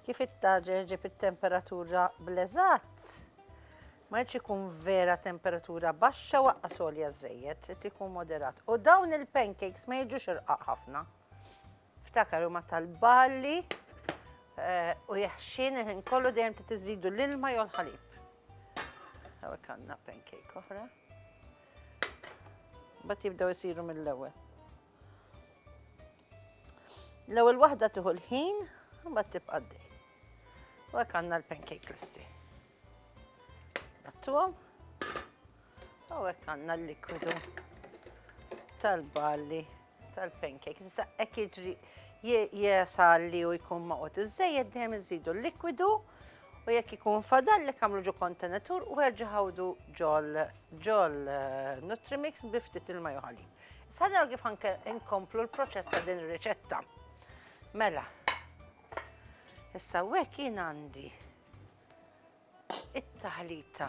Kif it-taġeħ ġieb it-temperatura bl-eżatt, ma jridx ikun vera temperatura baxxa waqqa solja żejjed, trid ikun moderat. U dawn il-pancakes ma jiġux irqaq ħafna. Ftakar huma tal-balli eh, u jaħxin il-ħin kollu dejjem trid iżidu l-ilma jew l-ħalib. Hawnhekk għandna pancake oħra. Bat jibdew isiru mill-ewwel. L-ewwel waħda tieħu l-ħin, imbagħad tibqa' għaddej. U hekk għandna l-pancake kristi. Nattuhom. U hekk għandna l-likwidu tal-balli tal-pancake. Issa hekk jiġri jesalli u jkun maqgħod iżejjed dejjem iżidu l-likwidu u jekk ikun fadal li kamlu ġo kontenatur u erġa' ħawdu ġol ġol eh, Nutrimix bi ftit il-majuħalib. Issa naraw kif anke inkomplu l-proċess ta' din ir-riċetta. Mela. Issa hekk jien għandi it-taħlita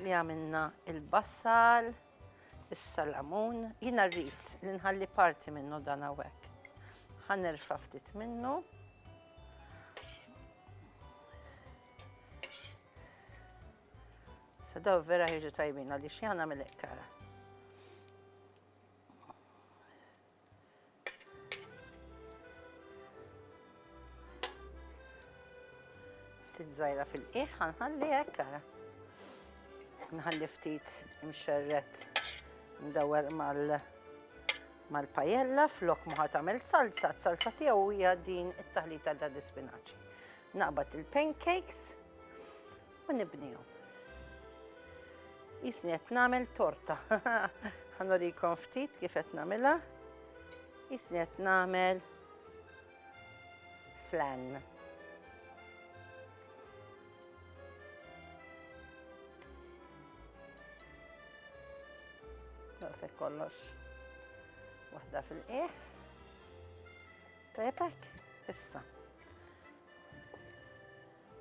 li għamilna il-bassal, is-salamun, jiena rrid li nħalli parti minnu dan hawnhekk. Ħanerfa' ftit minnu. Issa daw vera ħieġu tajbin għaliex jien nagħmel hekk kara. Ftit żgħira fil-qiegħ ħanħalli hekk kara. Nħalli ftit imxerret mdawwer mal mal-pajella flok muħat għamil salsa, salsa tiegħu hija din it-taħlita ta' dispinaċi. Naqbad il-pancakes, u nibnihom. Jisni qed nagħmel torta. Ħanurikom ftit kif qed nagħmilha. Jisni qed nagħmel flan. Naqsek kollox. Waħda fil-qieħ. Tajbek, issa.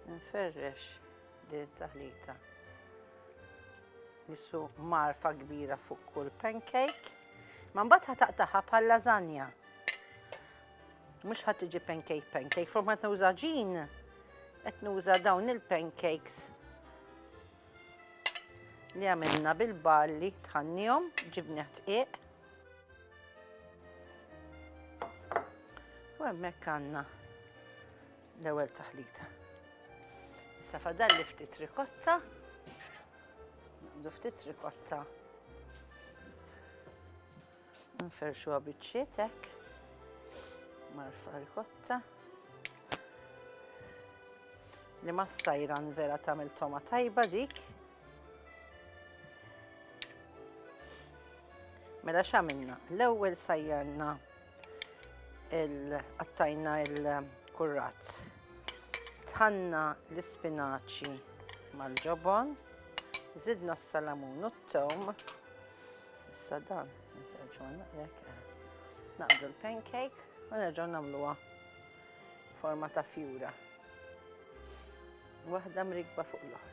Nferrex din it-taħlita. Nissu marfa kbira fuq kull pancake. Ma mbagħad ħataqtaħa bħal lasagna. Mhux ħadd tiġi pancake pancake, fuq ma nuża ġin, qed nuża dawn il-pancakes li għamilna bil-barli tħannihom, ġibni ħtqiq. U hemmhekk għandna L-ewwel taħlita. Issa fadalli ftit rikotta. Naqdu ftit rikotta. Nferxu għabitxiet hekk. Marfa rikotta. Li ma sajra vera tagħmel toma tajba dik. Mela x'għamilna? L-ewwel sajjarna il-qattajna il-kurrat. Tħanna l-ispinaċi mal-ġobon, zidna s-salamun u t-tom, issa dan, naqdu l-pancake u nerġaw namluwa forma ta' fjura. Waħda mrikba fuq l-oħra.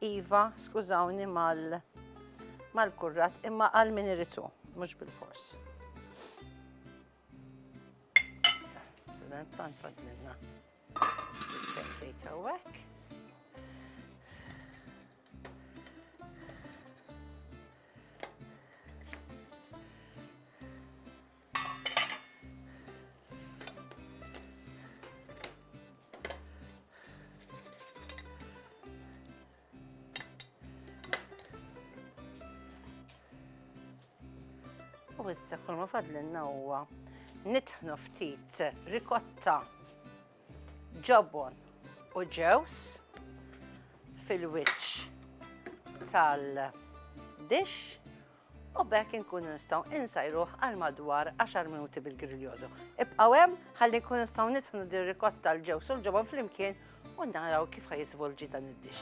Iva, skużawni mal mal-kurrat, imma għal min irid hu, mhux bil-fors. Issa, se dan tant fadlilna. Il-pancake hawnhekk. U issa kull ma fadlinna huwa nitħnu ftit rikotta ġobon u ġews fil-wiċċ tal-dix u b'hekk inkunu nistgħu insajruh għal madwar 10 minuti bil-griljożo. Ibqgħu hemm ħalli nkunu nistgħu nitħnu dir rikotta l-ġewż u l-ġobon flimkien u naraw kif ħajisvolġi dan id-dix.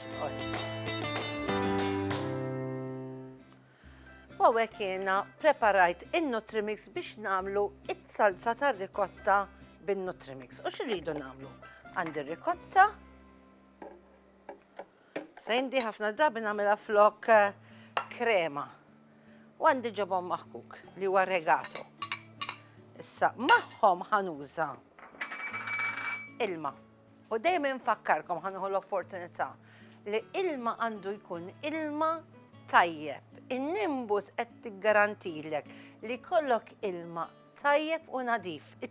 U għek jena preparajt il-Nutrimix biex namlu it-salza tar rikotta bin-Nutrimix. U xirridu namlu? Għandi rikotta, Sejndi ħafna drabi nagħmilha flok eh, krema. U għandi ġobon maħkuk li huwa regato. Issa magħhom ħanuża ilma. U dejjem infakkarkom ħanuħu l-opportunità li ilma għandu jkun ilma tajjeb. In-nimbus qed tiggarantilek li kollok ilma tajjeb u nadif.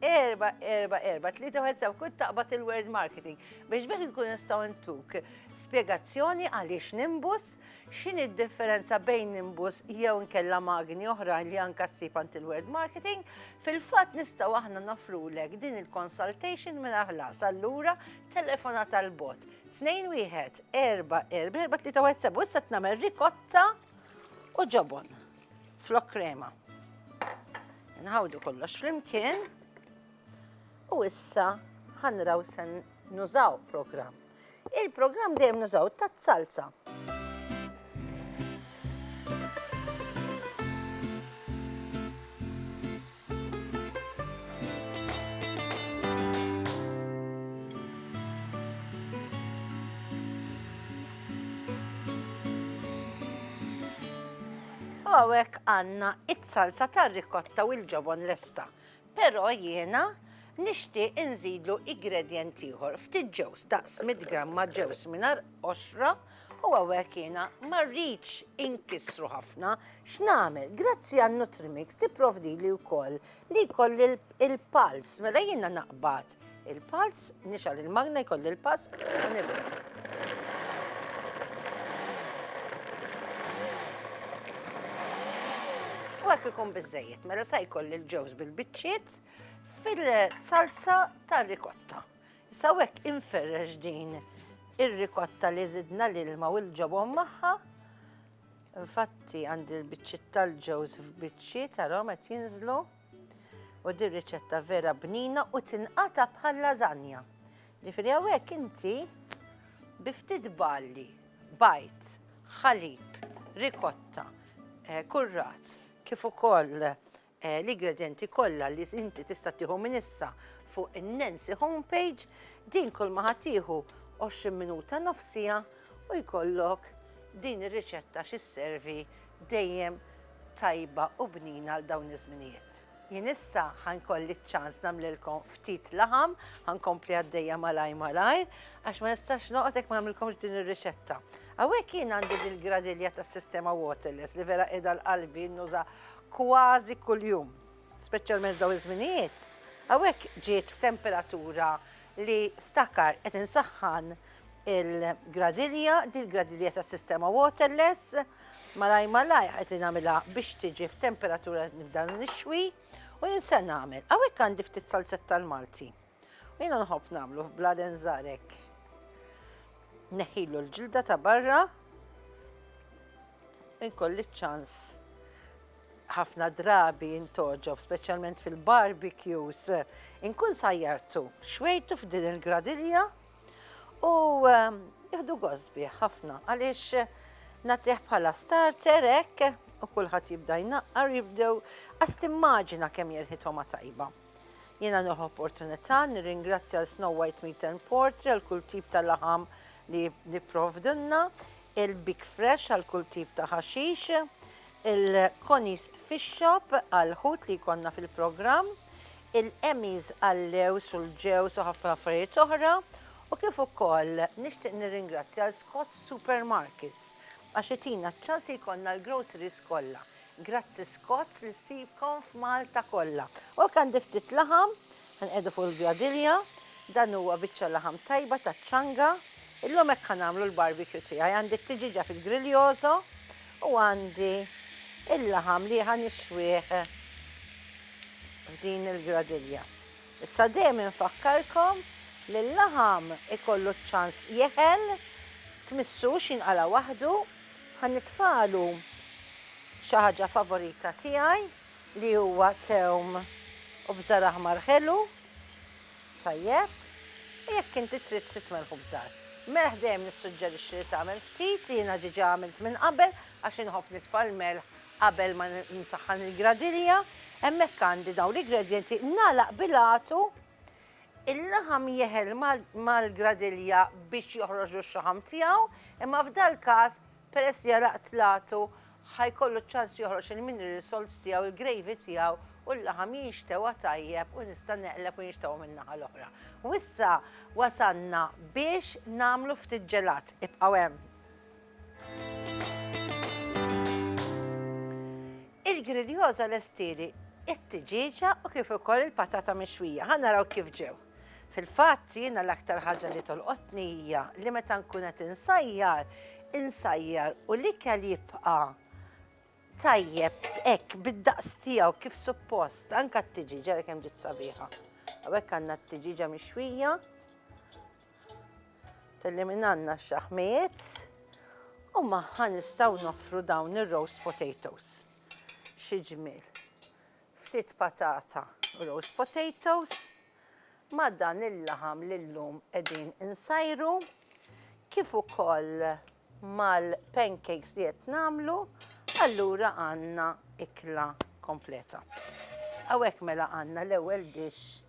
Erba, erba, erba, tlieta wieħed sew kull taqbad il-word marketing biex bekk nkun nistgħu ntuk spjegazzjoni għaliex nimbus, x'inhi d-differenza bejn nimbus jew nkella magni oħra li anka ssib għand il-word marketing, fil-fatt nistgħu aħna nofrulek din il-consultation minn ħlas allura telefona tal-bot. Tnejn wieħed, erba, erba, erba, tlieta wieħed sew, issa tnagħmel rikotta u ġobon. Flok krema. Nħawdu kollox flimkien u issa ħanraw sen nużaw program. Il-program dejjem nużaw ta' salsa. U hawnhekk għandna s-salsa tar-ricotta u l-ġobon lesta. Però jiena nixtieq inżidlu igredjent ieħor, ftit ġewż, daqs mitt gramma ġewż mingħajr qoxra, U għawek jena marriċ inkisru ħafna, x'namel, grazzi għan Nutrimix tipprovdi li wkoll li koll il-pals, mela jena naqbad il-pals, nixal il-magna jkoll il-pals, U għak ikun bizzejiet, mela sa jkoll il-ġewż bil-bicċiet fil-salsa tar-rikotta. Issa hawnhekk inferrex din ir-rikotta li żidna l-ilma u l-ġobon magħha. Infatti għandi l-biċċiet tal-ġewż f'biċċiet tarhom qed jinżlu. U din riċetta vera bnina u tinqata bħal lażanja. Ġifieri hawnhekk inti bi ftit balli, bajt, ħalib, rikotta, eh, kurrat, kif ukoll l-igredjenti kollha li inti tista' tieħu minn issa fuq in-Nancy homepage, din kulma ħa tieħu 20 minuta nofs siegħa u jkollok din ir-riċetta xi sservi dejjem tajba u bnina għal dawn iż-żminijiet. Jien issa ħa nkolli ċ-ċans nagħmlilkom ftit laħam, ħa nkompli għaddejja malajr malajr għax ma nistax noqgħod jekk ma nagħmlilkomx din ir-riċetta. Hawnhekk jien għandi dil-gradilja tas-sistema waterless li vera qiegħda l-qalbi nnuża kważi kuljum, speċjalment f'dawn iż-żminijiet, hawnhekk ġiet f'temperatura li ftakar qed insaħħan il-gradilja, din il-gradilja tas-sistema waterless, malaj malaj qed nagħmilha biex tiġi f'temperatura nibda nixwi u jinsen nagħmel. Hawnhekk għandi ftit salzetta l-Malti. U jiena nħobb nagħmlu f'bladen żgħar hekk. Neħilu l-ġilda ta' barra inkolli ċans ħafna drabi intoġob, speċjalment fil-barbecues, inkun sajjartu, xwejtu f'din il-gradilja u ehm, jihdu gosbi ħafna għaliex eh, natiħ bħala starter hekk u kulħadd jibda jnaqqar jibdew għast immaġina kemm jirħithom tajba. Jiena nieħu opportunità nirringrazzja lil Snow White Meat and Poultry għal kull tip ta' laħam li jipprovdulna, il-Big Fresh għal kull tip ta' ħaxix, il-Connie's Fish Shop għall-ħut li jkollna fil-programm, il-Emmy's għal-lewż u l-ġewż u ħafna affarijiet oħra, u kif ukoll nixtieq nirringrazzja lil Scott's Supermarkets għax itina ċ-ċans li jkollna l-groceries kollha Grazzi Scots li ssibkom f'Malta kollha. U hekk għandi ftit laħam, ħa nqiegħdu fuq il-gradilja, dan huwa biċċa laħam tajba taċ-ċanga. Illum hekk ħa nagħmlu l-barbecue tiegħi, għandi t-tiġieġa fil-griljoso u għandi il-laħam li ħa nixwih f'din il-gradilja. Issa dejjem infakkarkom li l-laħam ikollu ċ-ċans jeħel, tmissux jinqala' waħdu Ħa nitfagħlu xi ħaġa favorita tiegħi li huwa tewm u bżar aħmar ħelu, tajjeb, u jekk inti trid xi tmelħ u bżar. Melħ dejjem nissuġġerixxi li tagħmel ftit, jiena diġà għamilt minn qabel għax inħobb nitfa' l-melħ qabel ma nsaħħan il-gradilja. Hemmhekk għandi dawn l-igredjenti, nagħlaq bil-għatu. Il-laħam jeħel mal-gradilja biex joħroġ x-xaħam tiegħu, imma f'dal-każ, peress li għalaq tlatu, ħa jkollu ċ-ċans joħroġ il-mineral salts tiegħu, il-gravy tiegħu, u l-laħam jinxtewa tajjeb u nista' neqleb u jinxtewa min-naħa l-oħra. U issa wasalna biex nagħmlu ftit ġelat. Ibqgħu hemm. Il-griljosa lestili it-tiġieġa u kif ukoll il-patata mixwija. Ħa naraw kif ġew. Fil-fatt jiena l-aktar ħaġa li tolqotni hija li meta nkun qed insajjar, insajjar u l-ikel jibqa' tajjeb hekk bid-daqs tiegħu kif suppost, anka t-tiġiġa li kemm ġiet sabiħa. Hawnhekk għandna t-tiġiġa mixwija Telli minn għandna x-xaħmijiet u magħha nistgħu noffru dawn ir-roast potatoes. Xi ġmiel. Ftit patata u roast potatoes ma' dan il-laħam li llum qegħdin insajru kif ukoll mal-pancakes li qed nagħmlu, allura għandna ikla kompleta. Hawnhekk mela għandna l-ewwel dish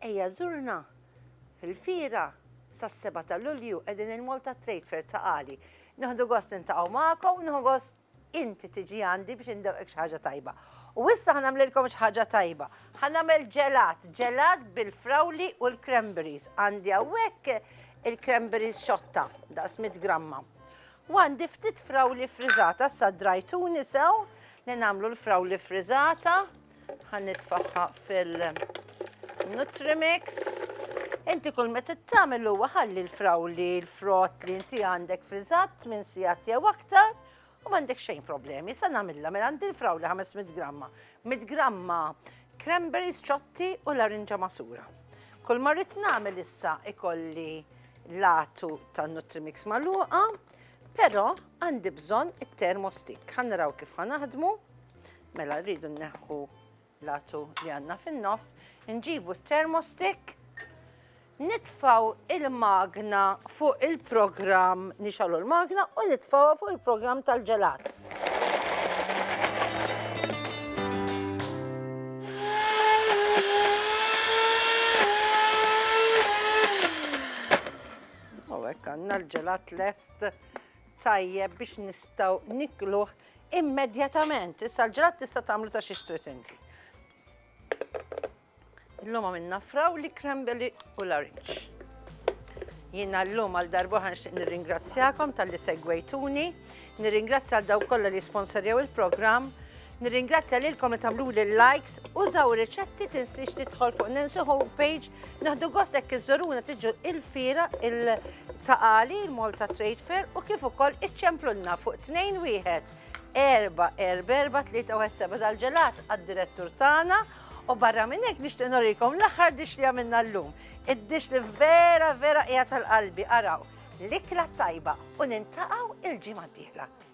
Ejja żurna! Fil-Fiera, sas-seba' ta' Lulju, qegħdin il-Malta Trade Fair ta' Għali. Nieħdu gost niltaqgħu magħkom u nieħu gost inti tiġi għandi biex indewqek xi ħaġa tajba. U issa ħa nagħmlilkom xi ħaġa tajba. Ħa nagħmel ġelat, ġelat bil-frawli u l-cranberries. Għandi hawnhekk il-cranberries xotta, daqs mitt gramma. U għandi ftit frawli ffriżata, issa drajtuni sew li nagħmlu l-frawli ffriżata. Ħa nitfagħha fil-Nutrimix. Inti kull meta tagħmel huwa ħalli l-frawli, l-frott li inti għandek friżat minn sigħat jew aktar u m'għandek xejn problemi. Sa nagħmilha mela għandi l-frawli 500 gramma. 100 gramma cranberries ċotti u larinġa masura. Kull ma rrid nagħmel issa ikolli latu tan-Nutrimix magħluqa, però għandi bżonn it-termostik. Ħa naraw kif ħa naħdmu. Mela rridu nneħħu l-għatu li għandna fin-nofs, nġibu t-termostik, nitfaw il-magna fuq il-programm, nixalu l-magna u nitfawa fuq il-programm tal-ġelat. għanna l-ġelat lest tajjeb biex nistaw nikluħ Immedjatament! Issa l-ġelat tista' tagħmlu ta' xiex trid inti. Illum għamilna frawli, krembeli u l-arinġ. Jiena llum għal darbohra nixtieq nirringrazzjakom tal-li segwejtuni, nirringrazzja għal daw kollha li sponsorjaw il-programm, nirringrazzja lilkom li tagħmlu li likes, użaw riċetti tinsiex tidħol fuq Nancy Home page, naħdu gost hekk iżżuruna tiġu il-fira il ta' Għali, il-Malta Trade Fair u kif ukoll iċċemplulna fuq 2-1 erba, erba, erba, tlieta, u seba dal-ġelat għad-direttur tagħna u barra minn hekk nixtieq norikom l-aħħar dix li għamilna llum. Id-dix li vera vera qiegħed tal-qalbi araw l-ikla tajba u nintaqgħu il-ġimgħa d-dieħla.